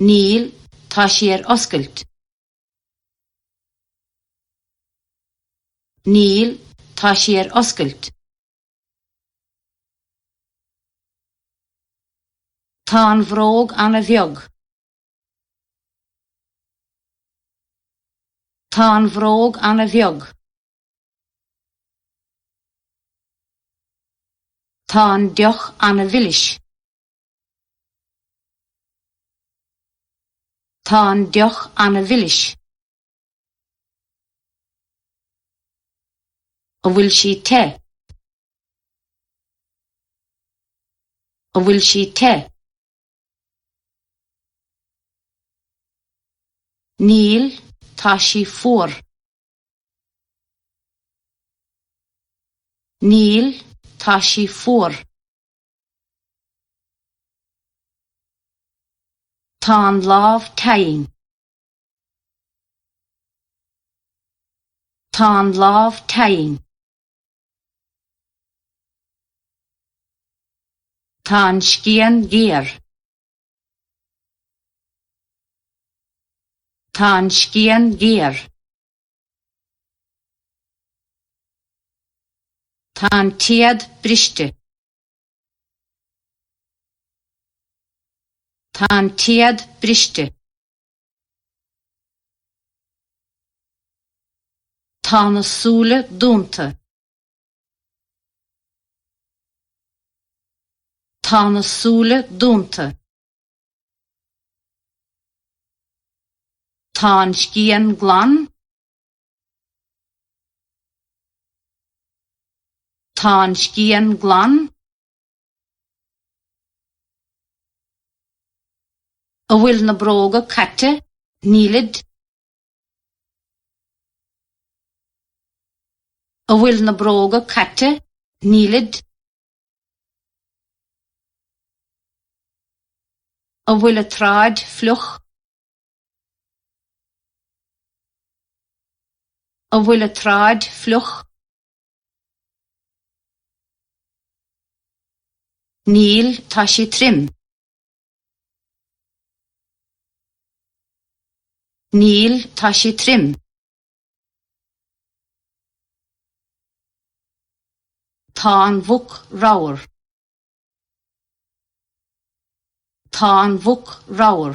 Níl, tá sí ar oscailt. Níl, tá sí ar oscailt. Tá an bhróg an-bheag. Tá an bhróg an-bheag. Tá an deoch an-mhilis. Tá an deoch an-mhilis. An bhfuil sí te? An bhfuil sí te? Níl, tá sí fuar. Níl, tá sí fuar. Tá an lámh teinn. Tá an lámh teinn. Tá an scian géar. Tá an scian géar. Tá an téad briste. Tá an téad briste. Tá na súile dúnta. Tá na súile dúnta. Tá an scian glan. Tá an scian glan. An bhfuil na bróga caite? Nílid. An bhfuil na bróga caite? Nílid. An bhfuil an tsráid fliuch? An bhfuil an tsráid fliuch? Níl, tá sí trim. Níl, tá sí trim. Tá an mhuc ramhar. Tá an mhuc ramhar.